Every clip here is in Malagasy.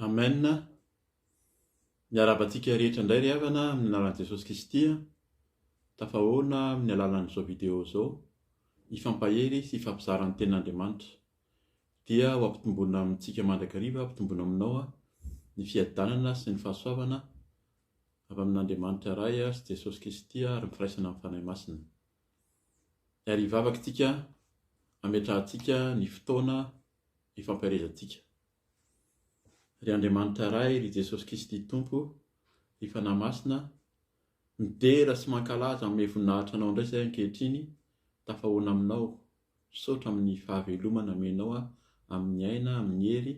Amen, miarahaba antsika rehetra indray ry havana amin'ny anaran'i Jesosy Kristy, tafahoana amin'ny alalan'izao video izao, hifampahery sy hifampizara ny tenin'Andriamanitra. Dia ho ampitomboina amintsika mandrakariva, ampitomboina aminao ny fiadanana sy ny fahasoavana avy amin'Andriamanitra Ray sy Jesosy Kristy ary ny firaisana amin'ny Fanahy Masina. ary hivavaka isika hametrahantsika ny fotoana hifampiarezantsika. Ry Andriamanitra Ray, ry Jesosy Kristy Tompo, ry Fanahy Masina, midera sy mankalaza amin'ny voninahitranao indray izay ankehitriny, tafahoana aminao, Misaotra amin'ny fahaveloma namenao ahy, amin'ny aina, amin'ny hery,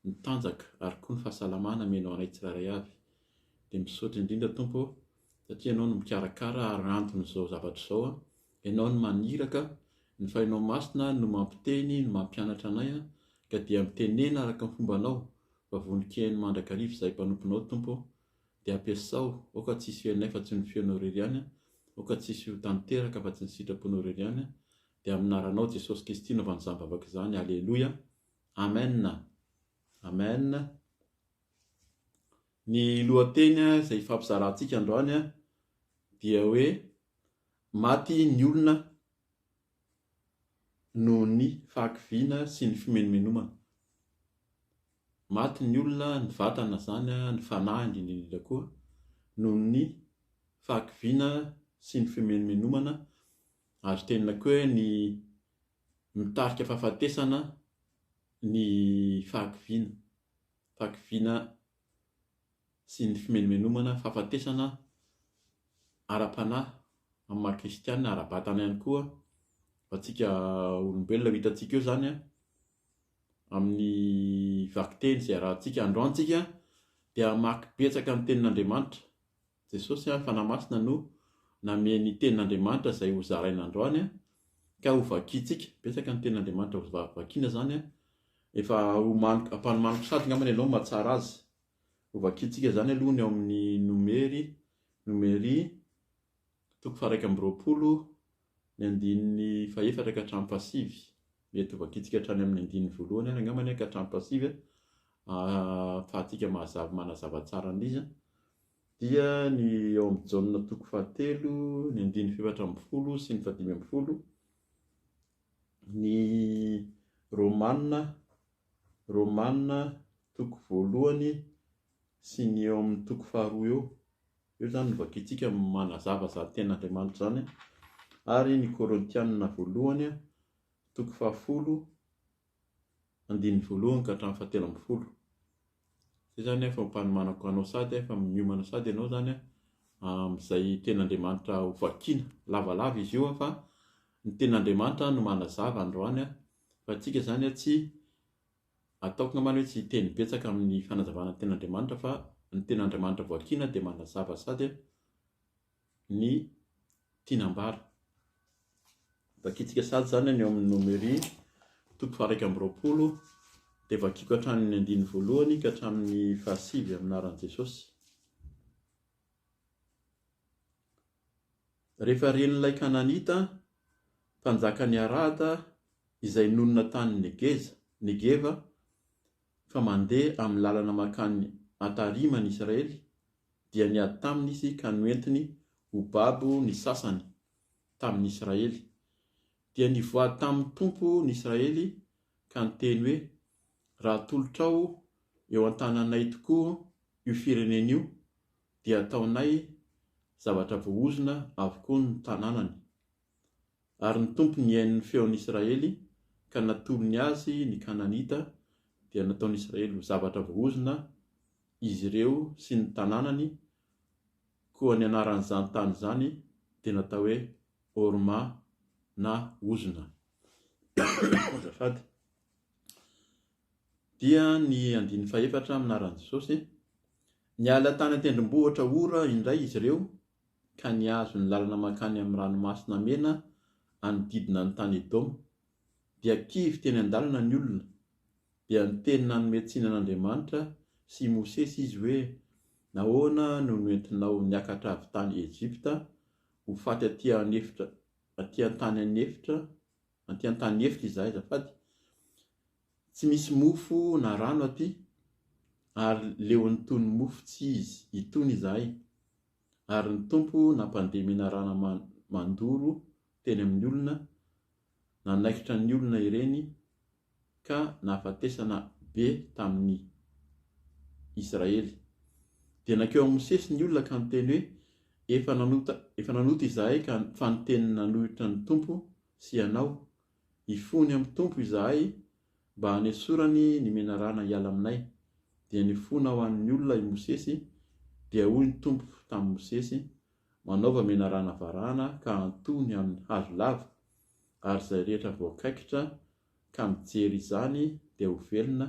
ny tanjaka ary koa ny fahasalamana amenao anay tsirairay avy. Dia misaotra indrindra Tompo ô, satria Ianao no mikarakara ary antony izao zavatra izao an, Ianao no maniraka, ny Fahinao Masina no mampiteny, no mampianatra anay an, ka dia mitenena araka ny fombanao, fa vonon-kiheno mandrakariva izahay mpanomponao Tompo ô. Dia ampiasao, aoka tsy hisy fenonay fa tsy ny feonao irery ihany an, aoka tsy hisy ho tanteraka fa tsy ny sitraponao irery ihany an, dia amin'ny anaranao Jesosy Kristy naovany izany vavaka izany, Aleloia, Amen, Amen, ny lohateny izay hifampizarantsika androany dia hoe maty ny olona noho ny fahakiviana sy ny fimenomenomana. Maty ny olona, ny vatana izany, ny fanahy indrindra indrindra koa, noho ny fahakiviana sy ny fimenomenomana, ary tenenina koa hoe ny mitarika fahafatesana ny fahakiviana, fahakiviana sy ny fimenomenomana fahafatesana ara-panahy amin'ny maha kristiana ara-batana ihany koa ho antsika olombelona. Ho hitantsika eo izany amin'ny vakiteny izay arahantsika androany isika dia hamaky betsaka ny tenin'Andriamanitra. Jesosy ary Fanahy Masina no namehy ny Tenin'Andriamanitra izay ho zaraina androany ka ho vakiantsika. Betsaka ny Tenin'Andriamanitra ho vakiana izany. Efa homaniko, ampanomaniko sady angambany ianao mahatsara azy. Ho vakiantsika izany aloha ny ao amin'ny nomery, nomery, toko faharaika amby roapolo, ny andininy fahefatra ka hatramin'ny fahasivy, mety ho vakitsika hatrany amin'ny andininy voalohany ary angambany ka hatramin'ny fahasivy ahafahantsika mahazava manazava tsara an'izy dia ny ao amin'ny Jaona toko fahatelo ny andininy fahefatra ambin'ny folo sy ny fahadimy ambin'ny folo ny Romana Romana toko voalohany sy ny eo amin'ny toko faharoa eo. Eo izany no vakintsika ny manazava izany tenin'Andriamanitra izany. Ary ny Korintianina voalohany, toko fahafolo, andininy voalohany ka hatramin'ny fahatelo ambin'ny folo. Izay izany fampanomanako anao sady fa miomana sady ianao izany amin'izay tenin'Andriamanitra ho vakiana. Lavalava izy io fa ny tenin'Andriamanitra no manazava androany fa antsika izany tsy Ataoko ngambany hoe tsy hiteny betsaka amin'ny fanazavana ny ten'Andriamanitra fa ny ten'Andriamanitra voakiana dia manazava sady ny tiany ambara. Vakintsika sady izany any amin'ny Nomery toko faha-iraika amby roapolo dia vakiako hatramin'ny andininy voalohany ka hatramin'ny fahasivy amin'ny anaran'i Jesosy. Rehefa ren'ilay Kananita, mpanjakan'i Arada, izay nonina tany Negeza, Negeva, fa mandeha amin'ny lalana mankany Atarima ny Israely, dia niady taminy izy ka noentiny ho babo ny sasany tamin'ny Israely. Dia nivoaha tamin'ny Tompo ny Israely ka niteny hoe, Raha atolotrao eo an-tananay tokoa io firenena io, dia hataonay zavatra voahozona avokoa ny tanànany. Ary ny Tompo nihaino ny feon'ny Israely ka natolony azy ny Kananita, dia nataon'ny Israely ho zavatra voahozona izy ireo sy ny tanànany, koa ny anaran'izany tany izany dia natao hoe Orma na ozona. Azafady. Dia ny andininy fahefatra amin'ny anaran'i Jesosy, Niala tany an-tendrombohitra Hora indray izy ireo ka nihazo ny lalana mankany amin'ny Ranomasina Mena hanodidina ny tany Edoma. Dia kivy teny an-dalana ny olona. Dia niteny nanome tsiny an'Andriamanitra sy i Mosesy izy hoe, Nahoana no noentinao niakatra avy tany Ejipta Ho faty aty an efitra aty an tany an efitra anty an tany efitra izahay azafady. Tsy misy mofo na rano aty ary leon'ny tony mofo tsy izy itony izahay ary ny Tompo nampandeha menarana mandoro teny amin'ny olona nanaikitra ny olona ireny ka nahafatesana be tamin'ny Israely. Dia nankeo amin'i Mosesy ny olona ka niteny hoe, Efa nanota, efa nanota izahay ka fa niteny nanohitra ny Tompo sy ianao. Hifony amin'ny Tompo izahay mba hanesorany ny menarana hiala aminay. Dia nifona ho an'ny olona i Mosesy, dia hoy ny Tompo tamin'i Mosesy, Manaova menarana varahana ka antoho ny amin'ny hazo lava, ary izay rehetra voakaikitra ka mijery izany dia ho velona,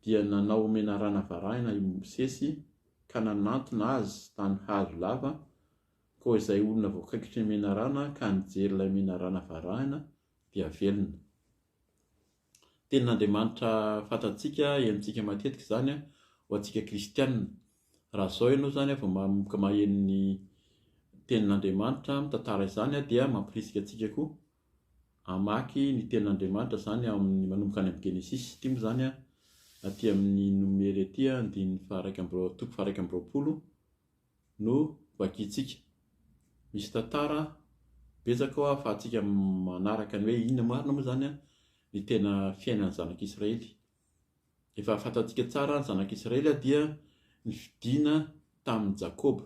dia nanao ho menarana varahina i Mosesy ka nanantona azy tany hazo lava, koa izay olona voakaikitry ny menarana ka nijery ilay menarana varahina dia velona. Tenin'Andriamanitra fantatsika, henontsika matetika izany ho antsika kristiana. Raha izao ianao izany vao manomboka maheno ny Tenin'Andriamanitra mitantara izany dia mampirisika antsika koa hamaky ny Tenin'Andriamanitra izany ao amin'ny manomboka any amin'ny Genesisy. Ity moa izany aty amin'ny Nomery aty andininy faharaika amby roa- toko faharaika amby roapolo. no vakintsika. Misy tantara betsaka ao ahafahantsika manaraka ny hoe inona marina moa izany ny tena fiainan'ny zanak'Israely. Efa fantatsika tsara ny zanak'Israely dia nifidina tamin'i Jakoba.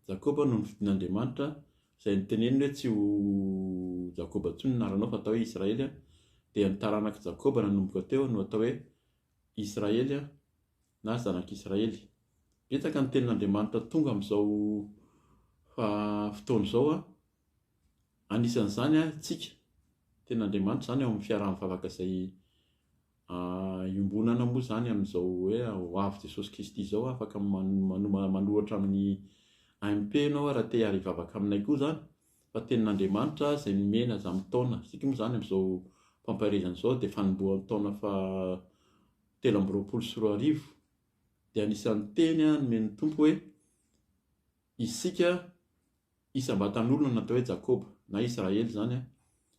Jakoba no nifidin'Andriamanitra izay niteneniny hoe tsy ho Jakoba intsony ny anaranao fa atao hoe Israely dia ny taranak'i Jakoba nanomboka teo no atao hoe Israely. na zanak'Israely. Betsaka ny tenin'Andriamanitra tonga amin'izao fotoana izao, anisan'izany antsika. Ny tenin'Andriamanitra izany ao amin'ny fiaraha-ny vavaka izay iombonana moa izany amin'izao hoe ho avy Jesosy Kristy izao. Afaka manoratra amin'ny AMP ianao raha te hiara hivavaka aminay koa izany fa ny tenin'Andriamanitra izay nomena aza amin'ny taona. Isika moa izany amin'izao fampaherezana izao dia fanombohan'ny taona faha telo amby roapolo sy roa arivo, dia anisan'ny teny nomen'ny Tompo hoe, Isika isam-batan'olona natao hoe Jakoba, na Israely izany an,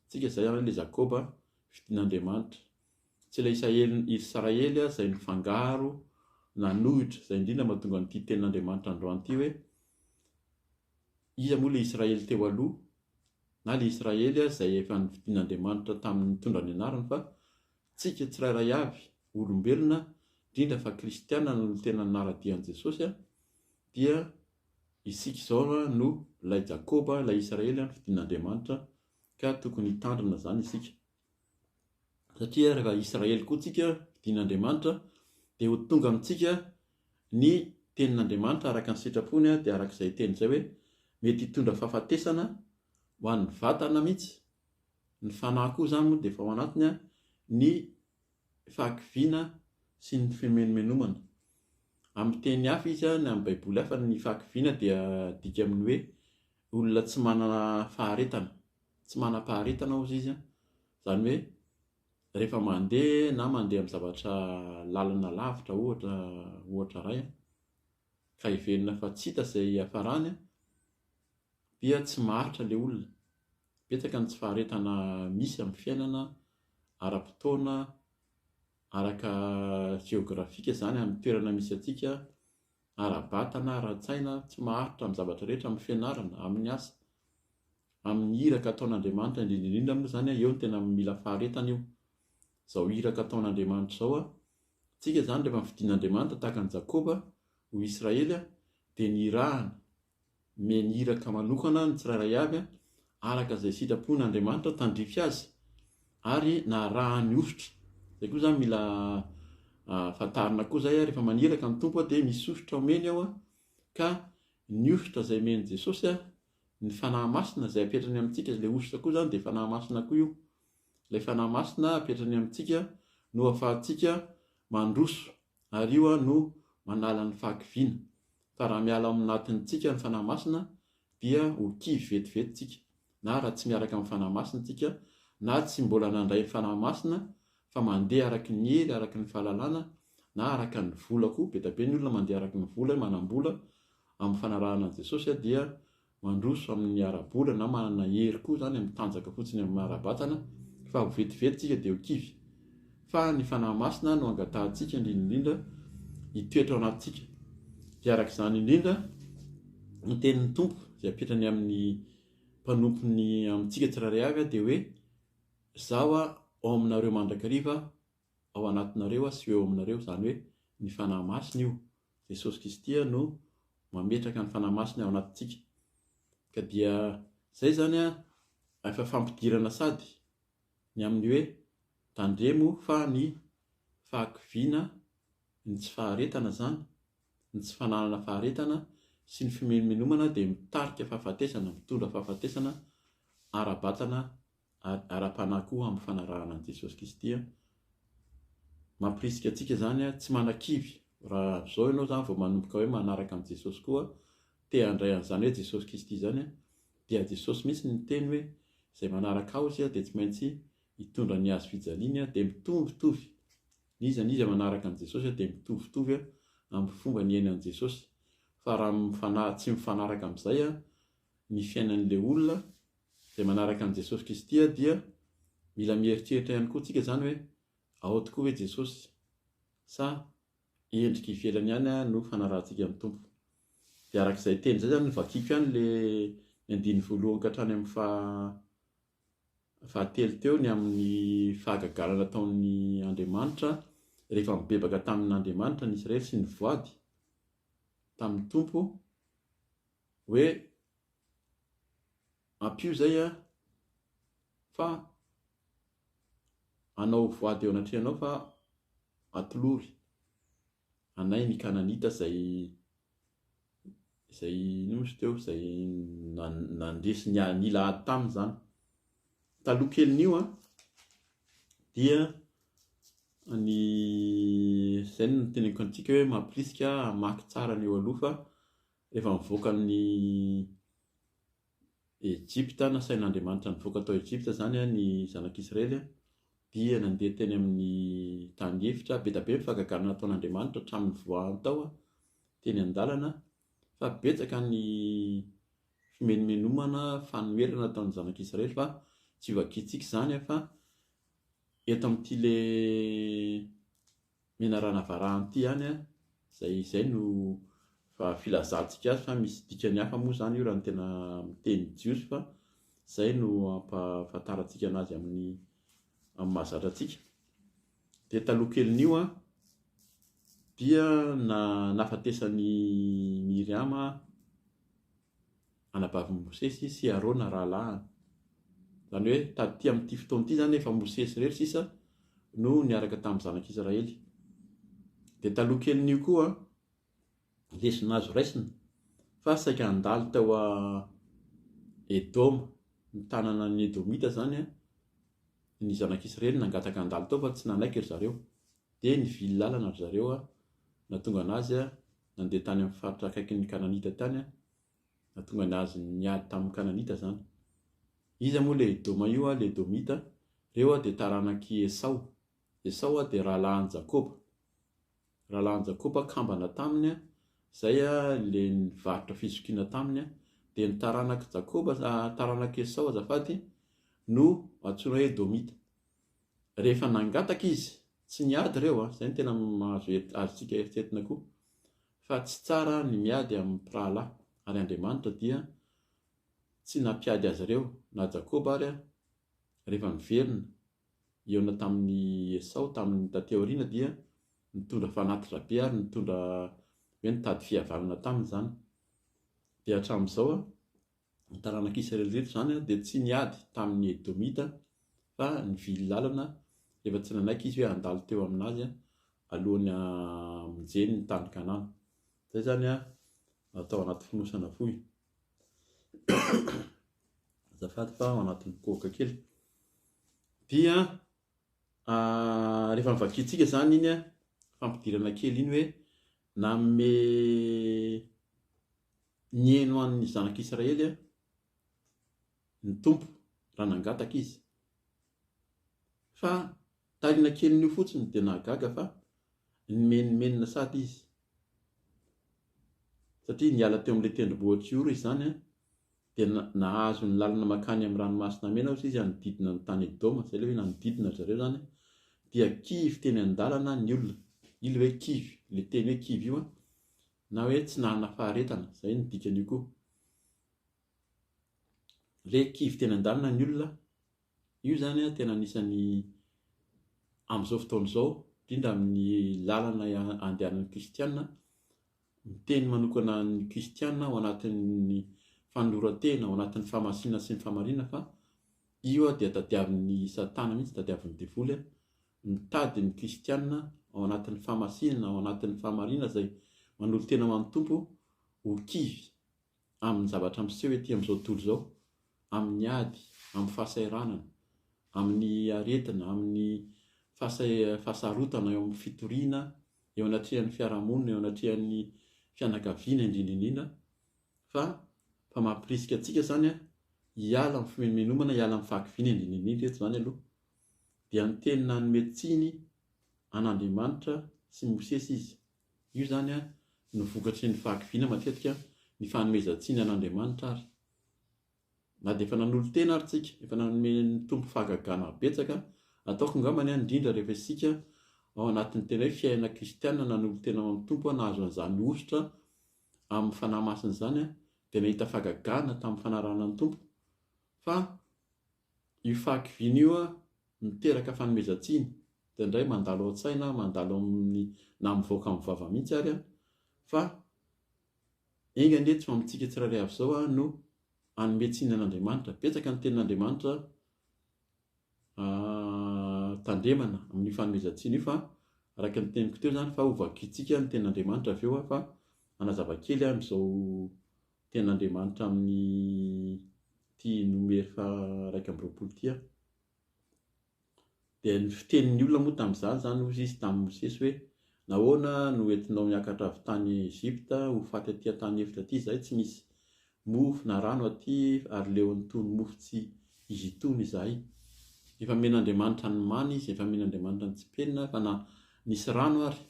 isika izay an, ilay Jakoba fidin'Andriamanitra. Tsy ilay Isaely, Israely an, izay nifangaro, nanohitra, izay indrindra mahatonga an'ity tenin'Andriamanitra androany ity hoe, iza moa ilay Israely teo aloha, na ilay Israely an, izay efa nifidin'Andriamanitra tamin'ny nitondra ny anarany, fa Tsika tsirairay avy, olombelona, indrindra fa kristiana no tena nanara-dia an'i Jesosy, dia isika izao no ilay Jakoba, ilay Israely fidin'Andriamanitra, ka tokony hitandrina izany isika. Satria rehefa Israely koa tsika, fidin'Andriamanitra, dia ho tonga amintsika ny tenin'Andriamanitra araka ny sitrapony, dia araka izay teny izay hoe mety hitondra fahafatesana ho an'ny vatana mihitsy, Ny fanahy koa izany moa dia efa ao anatiny ny fahakiviana sy ny fimenomenomana. Amin'ny teny hafa izy, na amin'ny Baiboly hafa, ny fahakiviana dia adika amin'ny hoe olona tsy manana faharetana. Tsy manam-paharetana hozy izy, izany hoe rehefa mandeha na mandeha amin'ny zavatra lalina lavitra ohatra ohatra iray ka heverina fa tsy hita izay hiafarany dia tsy maharitra ilay olona. Betsaka ny tsy faharetana misy amin'ny fiainana ara-potoana, araka jeografika izany amin'ny toerana misy antsika, ara-batana, ara-tsaina, tsy maharitra amin'ny zavatra rehetra, amin'ny fianarana, amin'ny asa, amin'ny iraka ataon'Andriamanitra, indrindra indrindra moa izany an, eo no tena mila faharetana io, izao iraka ataon'Andriamanitra izao an, isika izany rehefa nofidin'Andriamanitra tahaka an'i Jakoba ho Israely dia nirahany Omeny iraka manokana ny tsirairay avy araka izay sitrapon' Andriamanitra tandrify azy ary na arahan' ny hosotra. Izay koa izany mila fantarina koa izay rehefa maniraka ny Tompo dia misy hosotra omeny ao ka ny hosotra izay omen'i Jesosy ny Fanahy Masina izay apetrany amintsika ilay hosotra koa izany dia Fanahy Masina koa io. Ilay Fanahy Masina apetrany amintsika no ahafahantsika mandroso Ary io aho no manala ny fahakiviana. Fa raha miala ao anatintsika ny Fanahy Masina dia ho kivy vetivety tsika. Na raha tsy miaraka amin'ny Fanahy Masina tsika, na tsy mbola nandray ny Fanahy Masina fa mandeha araka ny hery, araka ny fahalalana, na araka ny vola koa, be dia be ny olona mandeha araka ny vola, manam-bola, amin'ny fanarahana an'i Jesosy dia mandroso amin'ny ara-bola na manana hery koa izany amin'ny tanjaka fotsiny amin'ny maha-ara-batana fa ho vetivety isika dia ho kivy. Fa ny Fanahy Masina no angatahantsika indrindra indrindra hitoetra ao anatintsika. Dia araka izany indrindra ny tenin'ny Tompo izay apetrany amin'ny mpanompony amintsika tsirairay avy dia hoe Izaho ao aminareo mandrakariva ao anatinareo sy eo aminareo, izany hoe ny Fanahy Masina io. Jesosy Kristy no mametraka ny Fanahy Masiny ao anatintsika. Ka dia izay izany efa fampidirana sady ny amin'ny hoe tandremo fa ny fahakiviana, ny tsy faharetana izany, ny tsy fananana faharetana sy ny fimenomenomana dia mitarika fahafatesana, mitondra fahafatesana ara-batana ary ara-panahy koa amin'ny fanarahana an'i Jesosy Kristy. Mampirisika antsika izany tsy manakivy. Raha avy izao ianao izany vao manomboka hoe manaraka an'i Jesosy koa, te handray an'izany hoe Jesosy Kristy izany, dia Jesosy mihitsy no niteny hoe izay manaraka ahy dia tsy maintsy hitondra ny hazo fijaliany, dia mitovitovy n'iza n'iza manaraka an'i Jesosy dia mitovitovy amin'ny fomba niaina an'i Jesosy. Fa raha tsy mifanaraka amin'izay ny fiainan'ilay olona, izay manaraka an'i Jesosy Kristy dia mila mieritreritra ihany koa tsika izany hoe ao tokoa ve Jesosy sa endrika ivelany ihany no fanarahantsika ny Tompo. Dia araka izay teny izay izany vakiko ihany le ny andiny voalohany ka hatrany amin'ny faha telo teo ny amin'ny fahagagana nataon'ny Andriamanitra rehefa mibebaka tamin'Andriamanitra ny Israely sy ny voady tamin'ny Tompo hoe Ampio izay an, fa anao voady eo anatrehanao fa atolory anay ny Kananita izay izay inona moa izy teo, izay nandresy ny a- nila ady taminy izany. Taloha kelin'io an, dia ny izay no niteneniko antsika hoe mampirisika hamaky tsara ny eo aloha fa. Rehefa nivoaka an'i Ejipta, nasain'Andriamanitra nivoaka tao Ejipta izany ny zanak'Israely, dia nandeha teny amin'ny tany efitra. Be dia be ny fahagagana nataon'Andriamanitra hatramin'ny nivoahany tao teny an-dalana, fa betsaka ny fimenomenomana, fanoherana nataon'ny zanak'Israely fa tsy ho vakintsika izany fa eto amin'ity ilay menarana varahanty ihany an! izay izay no fa filazantsika azy fa misy dikany hafa moa izany io raha ny tena miteny jiosy fa izay no ampahafantarantsika anazy amin'ny amin'ny mahazatra antsika dia taloha kelin'io an dia na nafatesan'i miriama anabavin'i Mosesy sy Arona rahalahiny. Izany hoe taty amin'ity fotoana ity izany efa Mosesy irery sisa no niaraka tamin'ny zanak'Israely. Dia taloha kelin'io koa lesona azo raisina fa saika handalo tao a Edoma, ny tanana ny Edomita izany ny zanak'Israely nangataka handalo tao fa tsy nanaiky ry zareo. Dia nivily lalana ry zareo an! Nahatonga ny azy nandeha tany amin'ny faritra akaikin' ny Kananita tany an! Nahatonga ny azy niady tamin' ny Kananita izany. Iza moa ilay Edoma io an? Ilay Edomita an! Ireo an dia taranak' i Esao. Esao an dia rahalahin' Jakoba. Rahalahin' Jakoba kambana taminy an! Izay an ilay nivarotra fizokiana taminy an! Dia ny taranak' Jakoba, taranak' Esao azafady, no antsoina hoe Edomita. rehefa nangataka izy, tsy niady ireo an, izay no tena mahazo azontsika eritretina koa, fa tsy tsara ny miady amin'ny mpirahalahy, ary Andriamanitra dia tsy nampiady azy ireo, na Jakoba ary rehefa niverina hihaona tamin'i Esao tamin'ny taty aoriana dia nitondra fanatitra be ary nitondra hoe nitady fihavanana taminy izany, dia hatramin'izao Ny taranak'i Israely rehetra izany dia tsy niady tamin'ny Edomita fa nivily lalana rehefa tsy nanaiky izy hoe handalo teo aminazy alohan'ny hamonjeny ny tany Kanana. Izay izany atao anaty fonosana fohy. Azafady fa ao anatin'ny kohoka kely. Dia ah, rehefa mivakintsika izany iny fampidirana kely iny hoe nanome Niheno an' ny Zanak' Israely ny Tompo raha nangataka Izy. Fa tahiana kelin' io fotsiny dia nahagaga fa nimenomenona sady izy, satria niala teo amin' ilay tendrombohitr' i Ora izany an, dia nahazo ny lalana mankany amin' ny Ranomasina Mena hozy izy hanodidina ny tany Edoma, izay ilay hoe nanodidina ry zareo izany an, dia kivy teny an-dalana ny olona, io ilay hoe kivy, ilay teny hoe kivy io an, Na hoe tsy nanana faharetana, izay no dikan'io koa. Ilay kivy teny an-dalana ny olona, io izany an, tena anisan'ny amin'izao fotoana izao, indrindra amin'ny lalana andehanan'ny kristiana, miteny manokana ny kristiana ao anatin'ny fanoloran-tena, ao anatin'ny fahamasinana sy ny fahamariana fa io dia tadiavin'ny satana mihitsy, tadiavin'ny devoly an, Mitady ny kristiana ao anatin'ny fahamasinana, ao anatin'ny fahamarinana izay manolo-tena ho an'ny Tompo ho kivy amin'ny zavatra miseho ety amin'izao tontolo izao, amin'ny ady, amin'ny fahasahiranana, amin'ny aretina, amin'ny fahasarotana eo amin'ny fitoriana, eo anatrehan'ny fiarahamonina, eo anatrehan'ny fianakaviana indrindra indrindra, fa fa mampirisika antsika izany hiala amin'ny fimenomenomana, hiala amin'ny fahakiviana indrindra indrindra eto izany aloha. dia niteny nanome tsiny an'Andriamanitra sy Mosesy izy. Io izany no vokatry ny fahakiviana matetika ny fanomezan-tsiny an'Andriamanitra ary. Na dia efa nanolo-tena ary tsika, efa nanome ny Tompo fahagagana betsaka, ataoko angambany indrindra rehefa isika ao anatin'ny tena hoe fiainana kristiana nanolo-tena ho an'ny Tompo, nahazo an'izany hosotra amin'ny Fanahy Masina izany dia nahita fahagagana tamin'ny fanarahana ny Tompo. Fa. Io fahakiviana io miteraka fanomezan-tsiny, indraindray mandalo ao an-tsaina, mandalo amin'ny, na mivoaka amin'ny vava mihitsy ary an, fa enga anie tsy ho amintsika tsirairay avy izao no hanome tsiny an'Andriamanitra. Betsaka ny tenin'Andriamanitra tandremana amin'io fanomezan-tsiny io fa araka ny teniko teo izany fa hovakintsika ny tenin'Andriamanitra avy eo fa hanazava kely amin'izao Tena Andriamanitra amin'ity Nomery faharaika amby roapolo ity aho. Dia ny fitenin'ny olona moa tamin'izany izany, hoy izy tamin'i Mosesy hoe, Nahoana no entinao niakatra avy tany Egypta ho faty aty an-tany efitra aty izahay, tsy misy mofo na rano aty, ary leo an'itony mofo tsy izy itony izahay? Efa nomen'Andriamanitra ny mana izy, efa nomen'Andriamanitra ny tsipelina, efa nisy rano ary.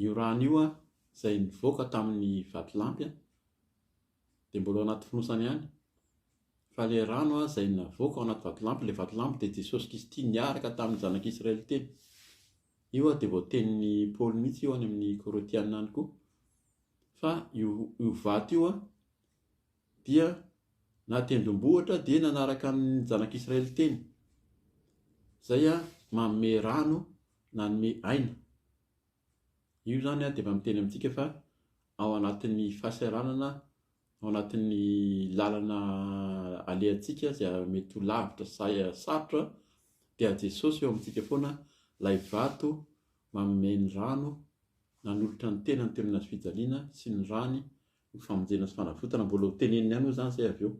Io rano io an, izay nivoaka tamin'ny vatolampy an, dia mbola ao anaty fonosana ihany. Fa ilay rano an, izay navoaka ao anaty vatolampy, ilay vatolampy dia Jesosy Kristy niaraka tamin'ny zanak'Israely teny. Io an dia voatenin'i Paoly mihitsy io any amin'ny Korintiana any koa. Fa io, io vato io an, dia na tendrombohitra dia nanaraka amin'ny zanak'Israely teny, izay manome rano nanome aina. Io izany dia efa miteny amintsika fa ao anatin'ny fahasahiranana, ao anatin'ny lalana alehantsika izay mety ho lavitra sy sarotra dia Jesosy eo amintsika foana ilay vato manome ny rano nanolotra ny tenany teo amin'ny hazo fijaliana sy ny rany Ny famonjena sy fanavotana mbola ho teneniny ihany moa izany izay avy eo.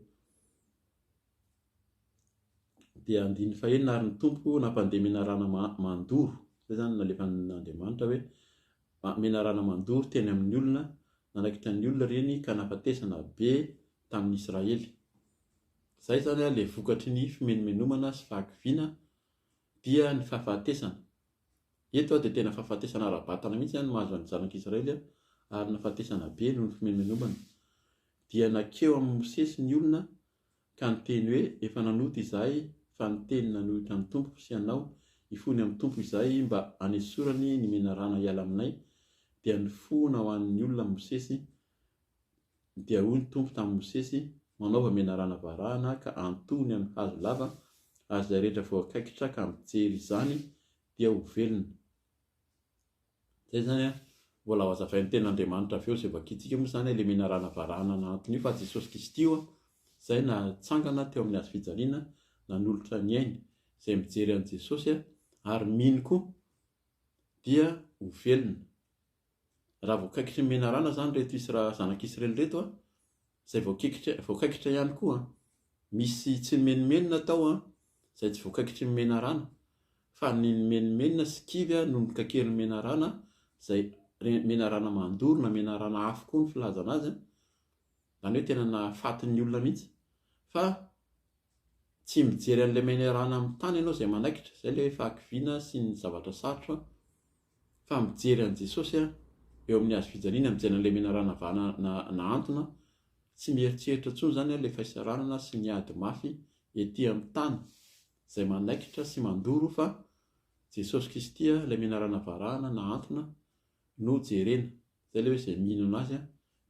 Dia andininy fahenina ary ny Tompo nampandeha menarana mandoro, izay izany nalefan'Andriamanitra hoe menarana mandoro teny amin'ny olona, nanaikitra ny olona ireny ka nahafatesana be tamin'ny Israely. Izay izany ilay vokatry ny fimenomenomana sy fahakiviana Dia ny fahafatesana. Eto dia tena fahafatesana ara-batana mihitsy no mahazo ny Zanak'i Israely, ary nahafatesana be noho ny fimenomenomana. Dia nankeo amin'i Mosesy ny olona ka niteny hoe, Efa nanota izahay fa niteny nanohitra an'ny Tompoko sy anao hifony amin'ny Tompo izahay mba hanesorany ny menarana hiala aminay, dia nifona ho an'ny olona Mosesy Dia hoy ny Tompo tamin'i Mosesy, Manaova menarana varahana ka antohony amin'ny hazo lava, ary izay rehetra voakaikitra ka mijery izany dia ho velona. Izay izany an, mbola ho azavain'ny Tenin'Andriamanitra avy eo izay vakintsika moa izany ilay menarana varahana nahanton'io fa Jesosy Kristy io izay natsangana teo amin'ny hazofijaliana nanolotra ny ainy, izay mijery an'i Jesosy ary mino koa dia ho velona. Raha voakaikitry ny menarana izany ireto Isra, zanak'Israely ireto an, izay voakaikitra, voakaikitra ihany koa an. Misy tsy nimenomenona tao an, izay tsy voakaikitry ny menarana. Fa ny nimenomenona sy kivy an, no nokaiken'ny menarana, izay re, menarana mandoro na menarana afo koa ny filazana azy an. Izany hoe tena nahafaty ny olona mihitsy. Fa tsy mijery an'ilay menarana amin'ny tany ianao izay manaikitra. Izay ilay fahakiviana sy ny zavatra sarotra an. fa mijery an'i Jesosy aho eo amin'ny hazo fijaliana, mijery an'ilay menarana vahana na nahantona, tsy mieritreritra intsony izany aho ilay fahisaranana sy ny ady mafy ety amin'ny tany izay manaikitra sy mandoro fa Jesosy Kristy ilay menarana varahana nahantona no jerena, izay ilay hoe izay mihinana azy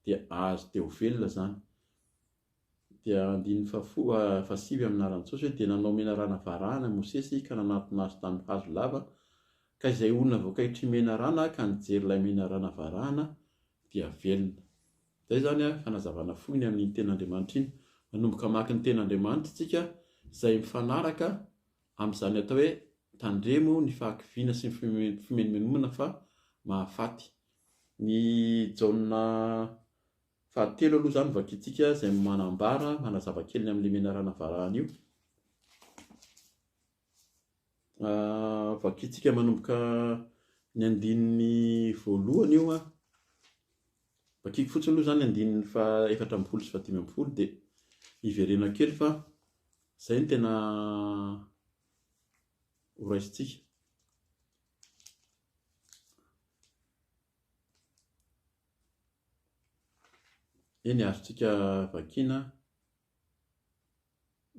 dia ahazo dia ho velona izany. Dia andininy fahafoa, fahasivy amin'ny anaran'i Jesosy hoe, Dia nanao menarana varahana i Mosesy ka nanatona azy tamin'ny hazo lava, ka izay olona voakaitry menarana ka nijery ilay menarana varahana dia velona. Izay izany an, fanazavana fohy ny amin'iny tena Andriamanitra iny. Manomboka hamaky ny tena Andriamanitra isika izay mifanaraka amin'izany atao hoe tandremo ny fahakiviana sy ny fimenomenomana fa mahafaty. Ny Jaona Fahatelo aloha izany vakintsika izay manambara, manazava kely ny amin'ilay menarana varahana io. Ah, vakintsika manomboka ny andininy voalohany io an. Vakiko fotsiny aloha izany andininy fa efatra ambin'ny folo sy fahadimy ambin'ny folo dia hiverena kely fa izay no tena horaisintsika. Eny, azontsika vakiana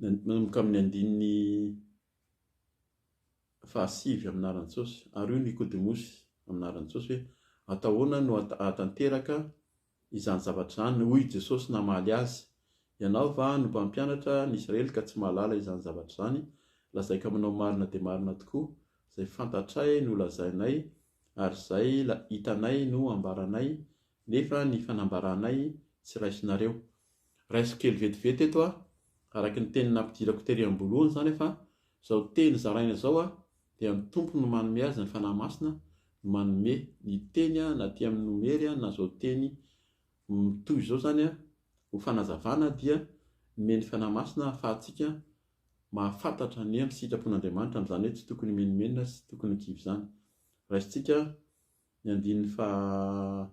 manomboka amin'ny andininy fahasivy amin'ny laharan-tsôsy, ary io Nikôdemosy amin'ny laharan-tsôsy hoe, Atao ahoana no hahatanteraka izany zavatra izany? Hoy i Jesôsy namaly azy, Ianao va no mpampianatra ny Israely ka tsy mahalala izany zavatra izany? Lazaiko aminao marina dia marina tokoa, izay fantatray no lazainay, ary zay la hitanay no ambaranay nefa ny fanambaranay tsy raisinareo. Raisiko kely vetivety eto a, araky ny teny nampidirako tery ambolohany zany fa zao teny zaraina zao a dia ny Tompo no manome azy ny Fanahy Masina no manome ny teny a na aty aminy nomery a na zao teny mitohy zao zany a ho fanazavana dia nomeny Fanahy Masina ahafahantsika mahafantatra ny amin'ny sitrapon'Andriamanitra amin'izany hoe tsy tokony himenomenona sy tokony ho kivy izany. Raisintsika ny andininy faha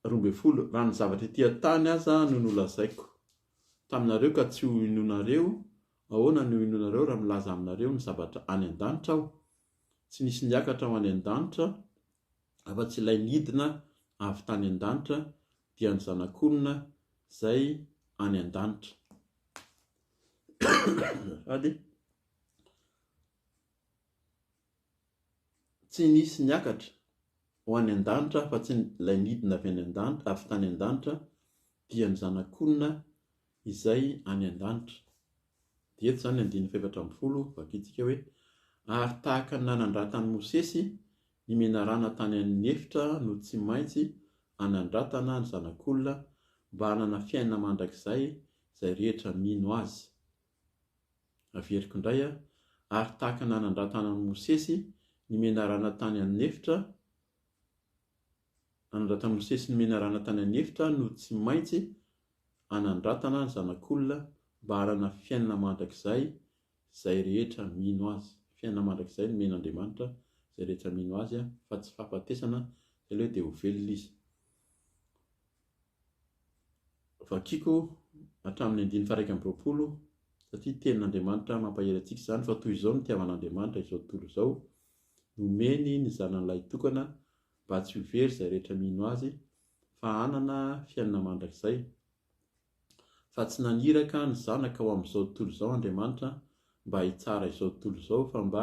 roa ambin'ny folo, raha ny zavatra ety an-tany aza no nolazaiko taminareo ka tsy ho inoanareo, ahoana no hinoanareo raha milaza aminareo ny zavatra any an-danitra aho? Tsy nisy niakatra ho any an-danitra afa-tsy ilay nidina avy tany an-danitra, dia ny Zanak'olona izay any an-danitra. Sady tsy nisy niakatra ho any an-danitra afa-tsy ilay nidina avy any an-danitra, avy tany an-danitra, dia ny Zanak'olona izay any an-danitra. Dia eto izany andininy fahefatra ambin'ny folo, vakintsika hoe, ary tahaka ny nanandratan'i Mosesy ny menarana tany amin'ny efitra no tsy maintsy hanandratana ny Zanak'olona mba hanana fiainana mandrakizay izay rehetra mino azy. Averiko indray an, ary tahaka nanandratana an'i Mosesy ny menarana tany an'efitra, nanandratan'i Mosesy ny menarana tany an'efitra aho no tsy maintsy hanandratana ny Zanak'olona mba hanana fiainana mandrakizay izay rehetra mino azy. Fiainana mandrakizay no men'Andriamanitra izay rehetra mino azy an, fa tsy fahafatesana, izay ilay hoe dia ho velona izy. Vakiko hatramin'ny andininy faha-iraika amby roapolo satria tenin'Andriamanitra mampahery antsika izany fa toy izao no nitiavan'Andriamanitra izao tontolo izao, nomeny ny Zanany Lahitokana mba tsy ho very izay rehetra mino Azy fa hanana fiainana mandrakizay. Fa tsy naniraka ny Zanaka ho amin'izao tontolo izao Andriamanitra mba hitsara izao tontolo izao fa mba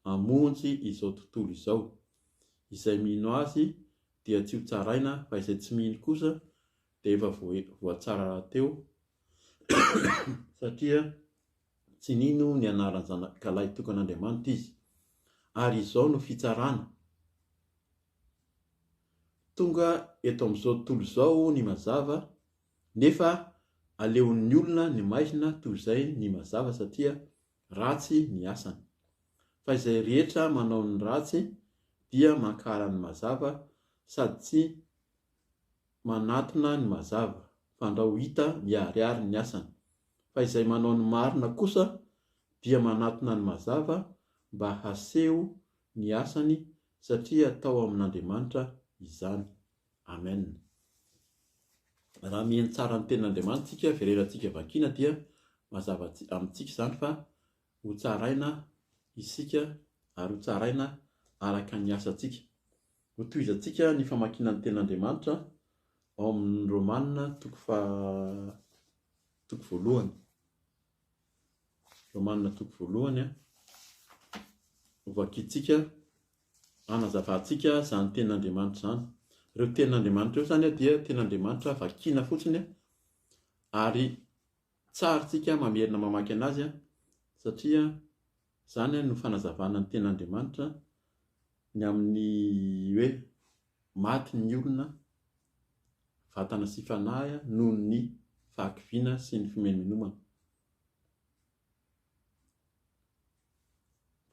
hamonjy izao tontolo izao. Izay mino Azy dia tsy ho tsaraina fa izay tsy mino kosa dia efa voatsara rahateo satria tsy nino ny anaran'ny Zanakalahy tokan'Andriamanitra izy. Ary izao no fitsarana. Tonga eto amin'izao tontolo izao ny mazava nefa aleon'ny olona ny maizina toy izay ny mazava satria ratsy ny asany. Fa izay rehetra manao ny ratsy dia mankara ny mazava sady tsy manatona ny mazava, fandrao hita miharihary ny asany. Fa izay manao ny marina kosa dia manatona ny mazava mba haseho ny asany satria atao amin'Andriamanitra izany. Amen. Raha mihaino tsara ny tenin'Andriamanitra isika, vererantsika vakiana dia mazava amintsika izany fa ho tsaraina isika ary ho tsaraina araka ny asantsika. Hotohizantsika ny famakiana ny tenin'Andriamanitra ao amin'ny Romana toko faha toko voalohany. Romana toko voalohany a. Hovakintsika Hanazavantsika izany tenin'Andriamanitra izany. Ireo tenin'Andriamanitra ireo izany dia tenin'Andriamanitra vakiana fotsiny ary tsarintsika mamerina mamaky an'azy satria izany no fanazavana ny tenin'Andriamanitra ny amin'ny hoe maty ny olona vatana sy fanahy noho ny fahakiviana sy ny fimenomenomana.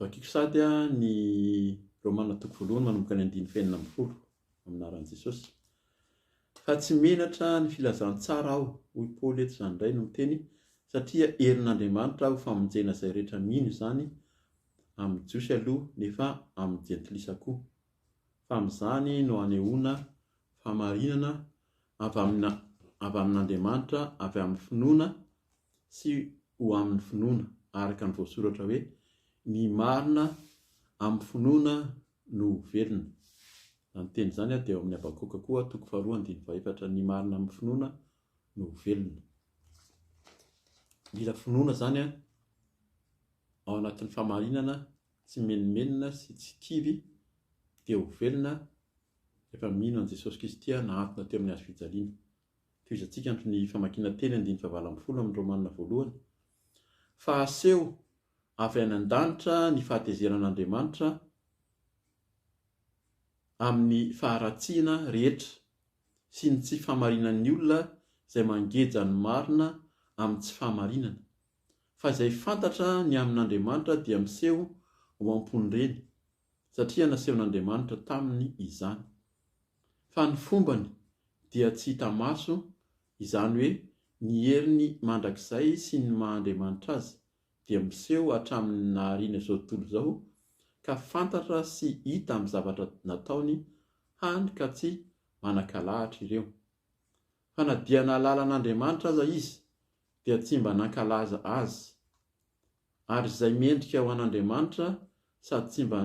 Vakiko sahady ny Romana toko voalohany manomboka ny andininy fahenina ambin'ny folo amin'ny anaran'i Jesosy. Fa tsy menatra ny filazantsara aho, hoy Paoly eto izany indray no miteny, satria herin'Andriamanitra ho famonjena izay rehetra mino izany, amin'ny Jiosy aloha, nefa amin'ny Jentilisa koa. fa amin'izany no anehoana fahamarinana avy amin'ny avy amin'Andriamanitra avy amin'ny finoana sy ho amin'ny finoana, araka ny voasoratra hoe, Ny marina amin'ny finoana no ho velona. Izany teny izany dia ao amin'ny Habakoka koa, toko faharoa andininy fahefatra, Ny marina amin'ny finoana no ho velona. Mila finoana izany ao anatin'ny fahamarinana Tsy menomenona sy tsy kivy dia ho velona rehefa mino an'i Jesosy Kristy aho nahantona teo amin'ny hazo fijaliana. Tohizantsika andro ny famakiana teny andininy fahavalo ambin'ny folo amin'ny Romana voalohany. Fa aseho avy any an-danitra ny fahatezeran'Andriamanitra amin'ny faharatsiana rehetra sy ny tsy fahamarinan'ny olona izay mangeja ny marina amin'ny tsy fahamarinana. fa izay fantatra ny amin'Andriamanitra dia miseho ao am-pon'ireny, satria nasehon'Andriamanitra taminy izany. Fa ny fombany dia tsy hita maso, izany hoe ny heriny mandrakizay sy ny maha Andriamanitra azy dia miseho hatramin'ny nahariana izao tontolo izao, ka fantatra sy hita amin'ny zavatra nataony, hany ka tsy manan-kalahatra ireo. Fa na dia nahalala an'Andriamanitra aza izy dia tsy mba nankalaza Azy. Ary izay mendrika ho an'Andriamanitra sady tsy mba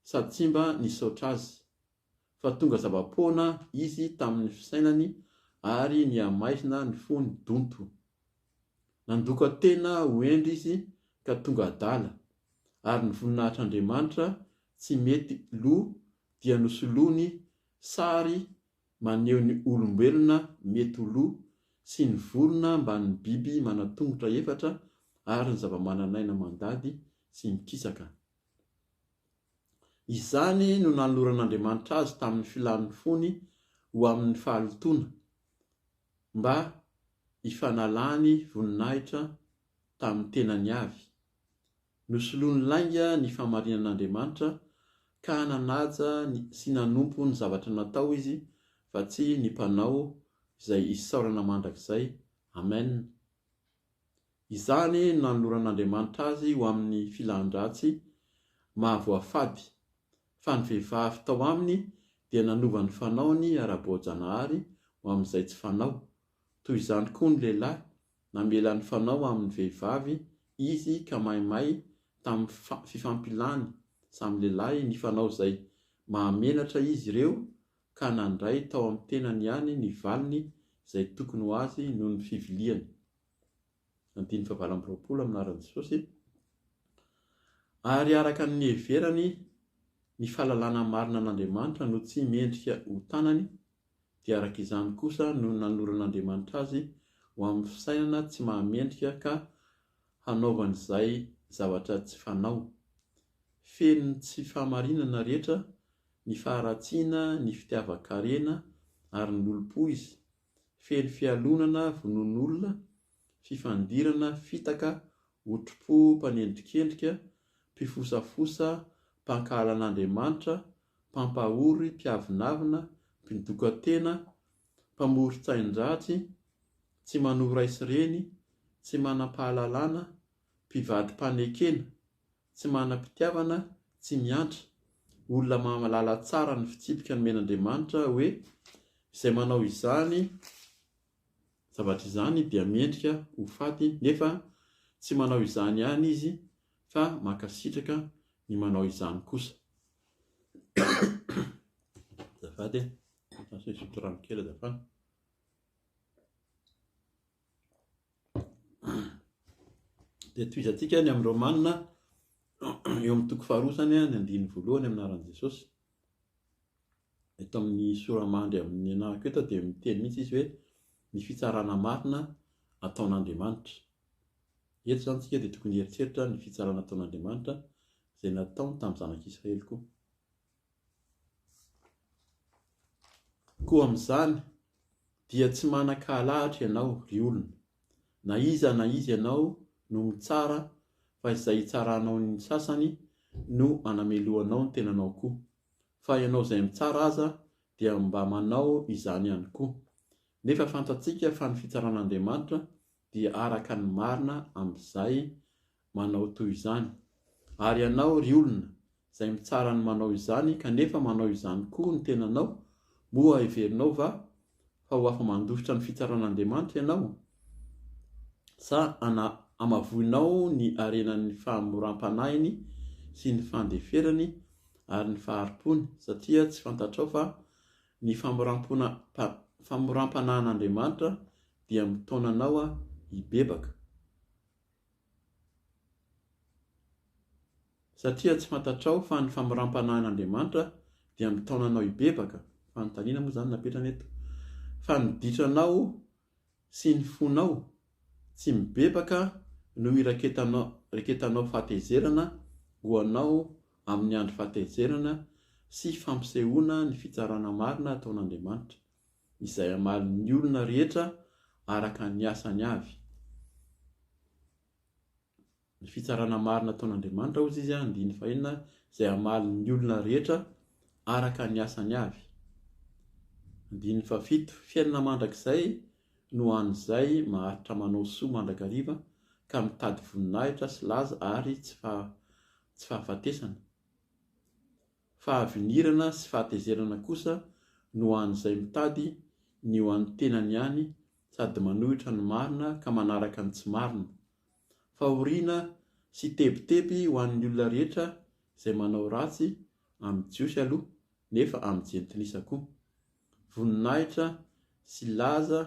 sady tsy mba nisaotra Azy, fa tonga zava-poana Izy tamin'ny fisainany ary nihamaizina ny fony donto. Nandoka tena ho hendry Izy ka tonga adala, ary ny voninahitr'Andriamanitra tsy mety lo dia nosoloany sary Maneho ny olombelona mety ho lo sy ny vorona ambanin'ny biby manan-tongotra efatra ary ny zavamananaina mandady sy mikisaka. Izany no nanoloran'Andriamanitra azy tamin'ny filàn'ny fony ho amin'ny fahalotoana, mba hifanalany voninahitra tamin'ny tenany avy. Nosoloany lainga ny fahamarinan'Andriamanitra ka nanaja sy nanompo ny zavatra natao izy fa tsy ny mpanao izay isaorana mandrakizay. Amen. Izany no nanoloran'Andriamanitra azy ho amin'ny filan-dratsy mahavoafady, fa ny vehivavy tao aminy dia nanova ny fanaony ara-boajanahary ho amin'izay tsy fanao, Toy izany koa ny lehilahy, namela ny fanao amin'ny vehivavy izy ka maimay tamin'ny fifampilany samy lehilahy nifanao izay mahamenatra izy ireo ka nandray tao amin'ny tenany ihany ny valiny izay tokony ho azy noho ny fiviliany. andininy fahavalo amby roapolo amin'ny anaran'i Jesosy, ary araka ny niheverany ny fahalalana marina an'Andriamanitra no tsy mendrika ho tanany, dia araka izany kosa no nanoran'Andriamanitra azy ho amin'ny fisainana tsy mahamendrika ka hanaovany izay zavatra tsy fanao. Feno tsy fahamarinana rehetra, ny faharatsiana, ny fitiavan-karena ary ny olom-po izy, feno fialonana vonoan'olona, fifandirana, fitaka, otripo, mpanendrikendrika, mpifosafosa, mpankahala an'Andriamanitra, mpampahory, mpiavonavona, mpidoka-tena, mpamoron-tsain-dratsy, tsy manohy ray sy reny, tsy manam-pahalalana, mpivadi-panekena. tsy manam-pitiavana, tsy miantra. Olona mahalala tsara ny fitsipika nomen'Andriamanitra hoe izay manao izany zavatra izany dia mendrika ho faty nefa tsy manao izany ihany izy fa mankasitraka ny manao izany kosa. Azafady e! Asa hisotro rano kely azafady. Dia tohizantsika ny amin'ny Romana eo amin'ny toko faharoa izany ny andininy voalohany amin'ny anaran'i Jesosy. Eto amin'ny soramandry amin'ny anarako eto dia miteny mihitsy izy hoe ny fitsarana marina ataon'Andriamanitra. Eto izany isika dia tokony hieritreritra ny fitsarana ataon'Andriamanitra izay nataony tamin'ny zanak'Israely koa. Koa amin'izany dia tsy manan-kahalahatra ianao, ry olona, na iza na iza ianao no mitsara, fa izay hitsaranao ny sasany no hanamelohanao ny tenanao koa, fa ianao izay mitsara aza dia mba manao izany ihany koa. Nefa fantatsika fa ny fitsaran'Andriamanitra dia araka ny marina amin'izay manao toy izany. Ary ianao, ry olona, izay mitsara ny manao izany, kanefa manao izany koa ny tenanao, moa heverinao va fa ho afa-mandositra ny fitsaran'Andriamanitra ianao? Sa ana-hamavoinao ny harenan'ny fahamoram-panahiny sy ny fandeferany ary ny fahari-pony, satria tsy fantatrao fa ny famoram-pona, pa, famoram-panahin'Andriamanitra dia mitaona anao hibebaka? Satria tsy fantatrao fa ny famoram-panahin'Andriamanitra dia mitaona anao hibebaka, fanontaniana moa izany no napetrany eto, fa ny ditranao sy ny fonao tsy mibebaka no iraketanao fahatezerana ho anao amin'ny andro fahatezerana sy fampisehoana ny fitsarana marina ataon'Andriamanitra. izay hamaly ny olona rehetra araka ny asany avy. Ny fitsarana marina ataon'Andriamanitra, hoy izy, andininy fahenina, izay hamaly ny olona rehetra araka ny asany avy. Andininy fahafito, fiainana mandrakizay no ho an'izay maharitra manao soa mandrakariva ka mitady voninahitra sy laza ary tsy fahafatesana. Fahavinirana sy fahatezerana kosa no ho an'izay mitady ny ho an'ny tenany ihany sady manohitra ny marina ka manaraka ny tsy marina. Fahoriana sy tebiteby ho an'ny olona rehetra izay manao ratsy amin'ny Jiosy aloha nefa amin'ny Jentilisa koa. Voninahitra sy laza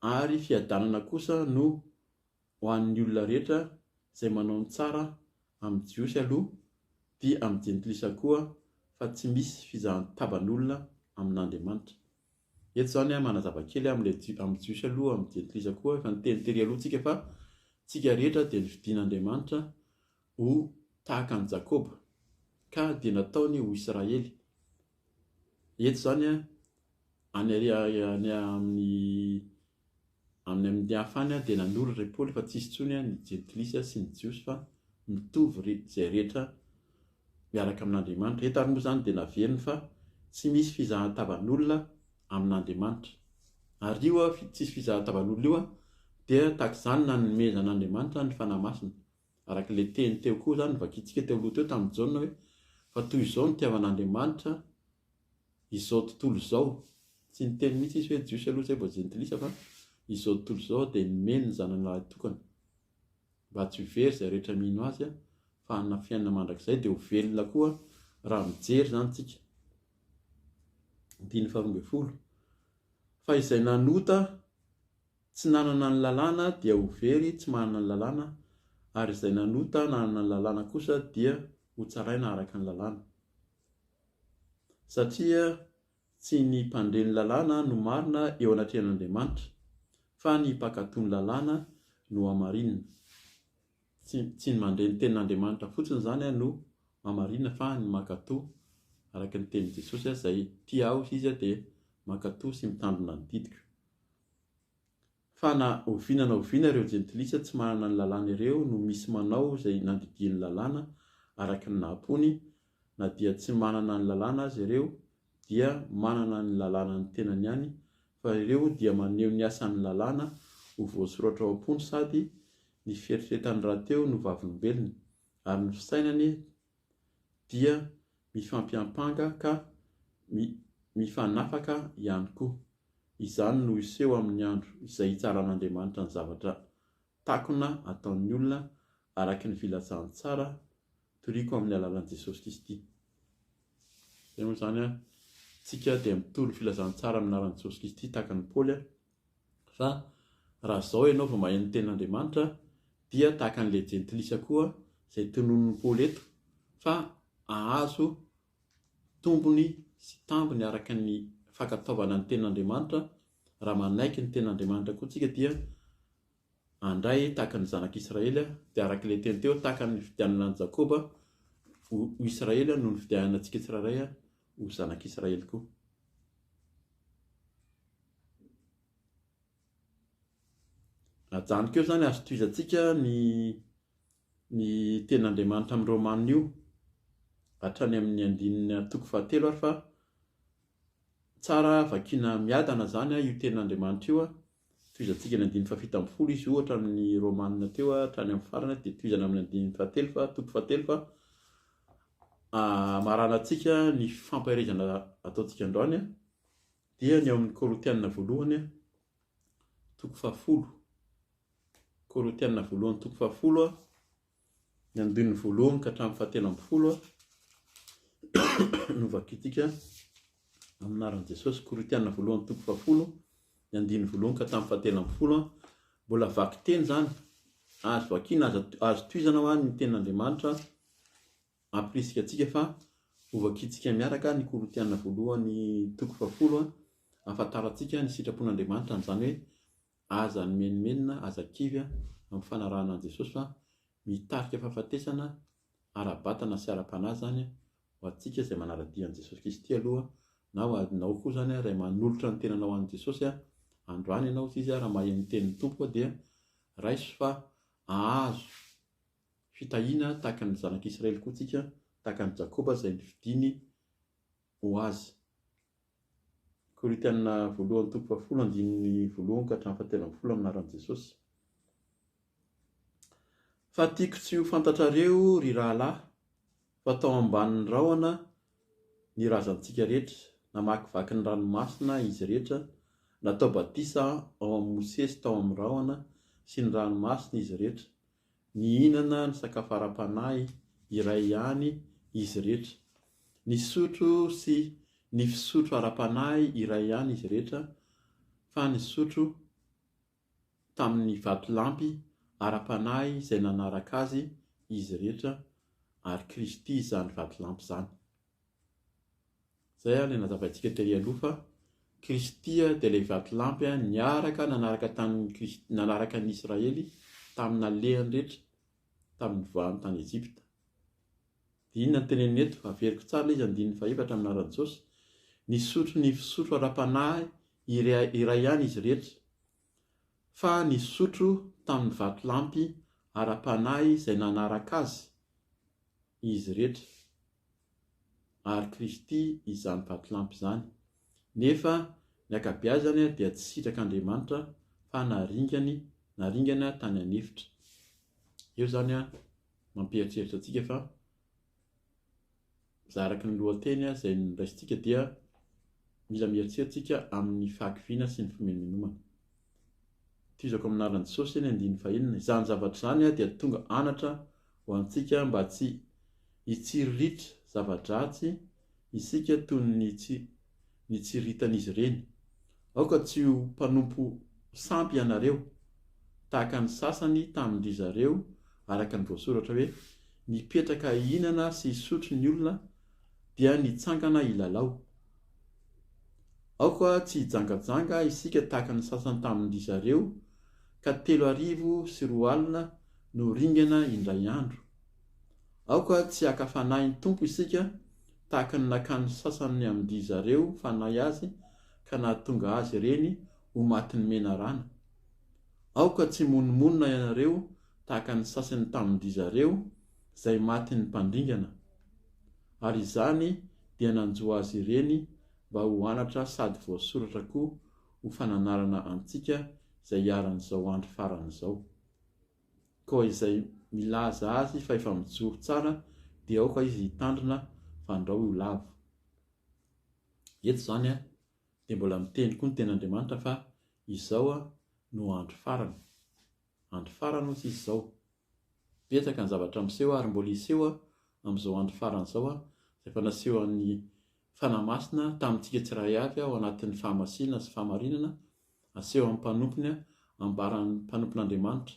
ary fiadanana kosa no ho an'ny olona rehetra izay manao ny tsara amin'ny Jiosy aloha dia amin'ny Jentilisa koa fa tsy misy fizahan-taban'olona amin'Andriamanitra. Eto izany manazava kely amin'ilay amin'ny Jiosy aloha amin'ny Jentilisa koa, efa niteny tery aloha tsika fa tsika rehetra dia nofidin'Andriamanitra ho tahaka an'i Jakoba ka dia nataony ho Israely. Eto izany any amin'ny Amin'ny amin'ny hafany dia nanoratra i Paoly fa tsy hisy intsony ny jentilisa sy ny jiosy fa mitovy ry izay rehetra miaraka amin'Andriamanitra. Eto ary moa izany dia naveriny fa tsy misy fizahan-tavan'olona amin'Andriamanitra. Ary io tsisy fizahan-tavan'olona io dia tahaka izany nanomezan'Andriamanitra ny Fanahy Masina. Araka ilay teny teo koa izany novakintsika teo aloha teo tamin'i Jaona hoe, fa toy izao ny itiavan'Andriamanitra izao tontolo izao, tsy niteny mihitsy izy hoe Jiosy aloha izay vao Jentilisa fa izao tontolo izao dia nomeny ny Zanany lahy tokana mba tsy ho very izay rehetra mino Azy fa hanana fiainana mandrakizay dia ho velona koa raha mijery izany isika. Andininy faharoa ambin'ny folo. Fa izay nanota tsy nanana ny lalàna dia ho very tsy manana ny lalàna, ary izay nanota nanana ny lalàna kosa dia ho tsaraina araka ny lalàna. Satria tsy ny mpandre ny lalàna no marina eo anatrehan'Andriamanitra, fa ny mpankatò ny lalàna no hamarinina. Tsy tsy ny mandre ny tenin'Andriamanitra fotsiny izany no hamarinina fa ny mankatò, araka ny tenin'i Jesosy, izay tia ahy hoy izy dia mankatò sy mitandrina ny didiko. Fa na oviana na oviana ireo jentilisa tsy manana ny lalàna ireo no misy manao izay nandidian'ny lalàna araka ny naha-mpony, na dia tsy manana ny lalàna aza ireo dia manana ny lalànan'ny tenany ihany, fa ireo dia maneho ny asan'ny lalàna ho voasoratra ao am-pony sady ny fieritreretany rahateo no vavolombelony, ary ny fisainany dia mifampiampanga ka mifanafaka ihany koa. Izany no hiseho amin'ny andro izay hitsaran'Andriamanitra ny zavatra takona ataon'ny olona araka ny filazany tsara toriako amin'ny alalan'i Jesosy Kristy. Izay moa izany an, isika dia mitory ny filazantsara amin'ny anaran'i Jesosy Kristy tahaka an'i Paoly Fa raha izao ianao vao maheno ny tenin'Andriamanitra dia tahaka an'ilay jentilisa koa izay tononin'i Paoly eto fa hahazo tombony sy tambiny araka ny fankatoavana ny tenin'Andriamanitra, raha manaiky ny tenin'Andriamanitra koa tsika dia Handray tahaka ny zanak'i Israely dia araka ilay teny teo tahaka ny nifidianana an'i Jakoba ho Israely no nifidianana antsika tsirairay ho zanak'i Israely koa. Ajanoko eo izany azo tohizantsika ny ny tenin'Andriamanitra amin'ny Romanina io hatrany amin'ny andininy toko fahatelo ary fa tsara vakiana miadana izany io tenin'Andriamanitra io Tohizantsika ny andininy fahafito ambin'ny folo izy ohatra amin'ny Romanina teo hatrany amin'ny farany dia tohizana amin'ny andininy fahatelo fa toko fahatelo fa hamaranantsika ah, ny fampaherezana ataontsika androany ah, dia ny ao amin'ny Korintianina voalohany ah, toko fahafolo Korintianina voalohany toko fahafolo ah, Ny andininy voalohany ka hatramin'ny fahatelo ambin'ny folo no vakintsika amin'ny anaran'i Jesosy. Korintiana voalohany toko fahafolo, ny andininy voalohany ka hatramin'ny fahatelo ambin'ny folo. Mbola vaky teny izany, azo vakiana, azo at- azo tohizana ho any ny tenin'Andriamanitra ampirisika antsika fa hovakintsika miaraka ny Korintiana voalohany toko fahafolo an, hahafantarantsika ny sitrapon'Andriamanitra an'izany hoe Aza nimenomenona, aza kivy amin'ny fanarahana an'i Jesosy fa mitarika fahafatesana ara-batana sy ara-panahy izany ho antsika izay manara-dia an'i Jesosy Kristy aloha na ho anao koa izany ray manolotra ny tenanao an'i Jesosy andro any ianao sy izy raha maheno ny tenin'ny Tompo dia raiso fa ahazo fitahiana tahaka ny zanak'Israely koa tsika tahaka ny Jakoba izay nifidiny ho azy Korintiana voalohany toko fahafolo andininy voalohany ka hatramin'ny fahatelo ambin'ny folo amin'ny anaran'i Jesosy. Fa tiako tsy ho fantatrareo, ry rahalahy, fa tao ambanin'ny rahona ny razantsika rehetra, namakivaky ny ranomasina izy rehetra, natao batisa ao amin'i Mosesy tao amin'ny rahona sy ny ranomasina izy rehetra, Nihinana ny sakafo ara-panahy iray ihany izy irehetra. Nisotro sy ny fisotro ara-panahy iray ihany izy irehetra, fa nisotro tamin'ny vatolampy ara-panahy izay nanaraka azy izy irehetra, ary Kristy izany vatolampy izany. Izay ilay nazavaintsika tery aloha fa Kristy dia ilay vatolampy niaraka nanaraka tamin'i Kristy nanaraka an'i Israely tamin'ny alehany rehetra tamin'ny nivoahany tany Ejipta. Dia inona no teneniny eto? Averiko tsara ilay izy andininy fahefatra amin'ny anaran'i Jesosy. Nisotro ny fisotro ara-panahy iray, iray ihany izy rehetra fa nisotro tamin'ny vatolampy ara-panahy izay nanaraka azy izy rehetra. ary Kristy izany vatolampy izany. Nefa ny ankabeazany dia tsy sitrak'Andriamanitra fa naringany, naringana tany an'efitra. Eo izany mampieritreritra antsika fa za araka ny lohateny izay noraisintsika dia mila mieritreritra isika amin'ny fahakiviana sy ny fimenomenomana. Tohizako amin'ny lalan'i Jesosy eny andininy fahenina, izany zavatra izany dia tonga anatra ho antsika mba tsy hitsiriritra zava-dratsy isika toy ny nitsiriritan'izy ireny. Aoka tsy ho mpanompo sampy ianareo, tahaka ny sasany tamin-dry zareo, araka ny voasoratra hoe, Nipetraka hihinana sy hisotro ny olona, dia nitsangana hilalao. Aoka tsy hijangajanga isika tahaka ny sasany tamin-dry zareo, ka telo arivo sy roa alina no ringana indray andro. Aoka tsy haka Fanahin'ny Tompo isika tahaka ny nakan'ny sasany amin-dry zareo fanahy azy ka nahatonga azy ireny ho matin'ny menarana. Aoka tsy himonomonona ianareo tahaka ny sasany tamin-dry zareo, izay matin'ny mpandringana. ary izany dia nanjo azy ireny mba ho anatra sady voasoratra koa ho fananarana antsika izay iharan'izao andro farany izao. Koa izay milaza azy fa efa mijoro tsara dia aoka izy hitandrina fandrao io lavo. Eto izany dia mbola miteny koa ny tenin'Andriamanitra fa izao no andro farany. Andro farany hoy tsisy izao. Betsaka ny zavatra miseho ary mbola hiseho amin'izao andro farany izao izay efa nasehon'ny Fanahy Masina tamintsika tsiraray avy ao anatin'ny fahamasinana sy fahamarinana asehon'ny mpanompony ambaran'ny mpanompon'Andriamanitra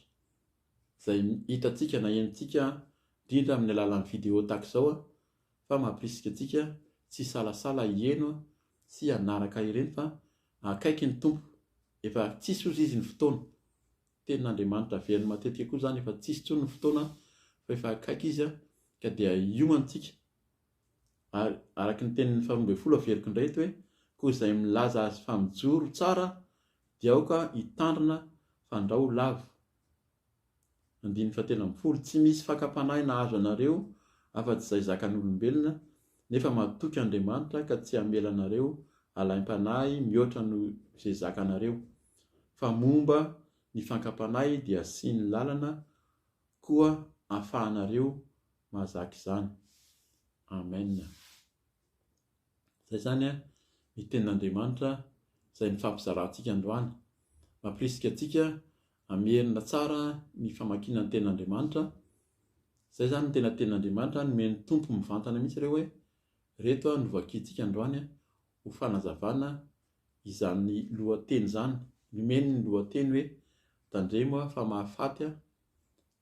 izay hitantsika na henontsika indrindra amin'ny alalan'ny video tahaka izao fa mampirisika antsika tsy hisalasala hiheno sy hanaraka ireny fa Akaiky ny Tompo. Efa tsisy ozy izy ny fotoana. Tenin'Andriamanitra averiny matetika koa izany efa tsisy intsony ny fotoana fa efa akaiky izy an, ka dia hiomantsika. Ary araka ny tenin'ny faharoa ambin'ny folo averiko indray eto hoe, koa izay milaza azy fa mijoro tsara dia aoka hitandrina fandrao lavo. Andininy fahatelo ambin'ny folo, Tsy misy fakam-panahy nahazo anareo afa-tsy izay zakan'olombelona, nefa matoky Andriamanitra ka tsy hamela anareo alaim-panahy mihoatra noho izay zakanareo, fa momba ny fakam-panahy dia asiany lalana koa ahafahanareo mahazaka izany. Amen. Izay izany ny tenin'Andriamanitra izay nifampizarantsika androany. Mampirisika antsika Hamerina tsara ny famakiana ny tenin'Andriamanitra, izay izany ny tena tenin'Andriamanitra, nomen'ny Tompo mivantana mihitsy ireo hoe, ireto no vakintsika androany ho fanazavana izany lohateny izany, nomeny ny lohateny hoe, Tandremo fa mahafaty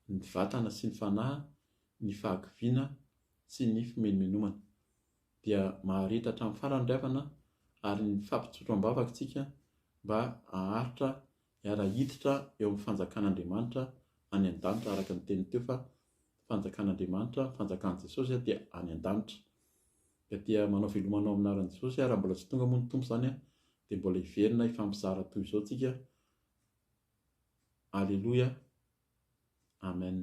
ny vatana sy ny fanahy ny fahakiviana sy ny fimenomenomana. Dia maharitra hatramin'ny farany ry havana ary ny fampitsotroam-bavaka isika mba haharitra Hiara-hiditra eo amin'ny fanjakan'Andriamanitra any an-danitra araka ny teniny teo fa fanjakan'Andriamanitra, ny fanjakan'i Jesosy dia any an-danitra. Ka dia manao veloma anao amin'ny anaran'i Jesosy raha mbola tsy tonga moa ny Tompo izany dia mbola hiverina hifampizara toy izao tsika. Aleloia. Amen.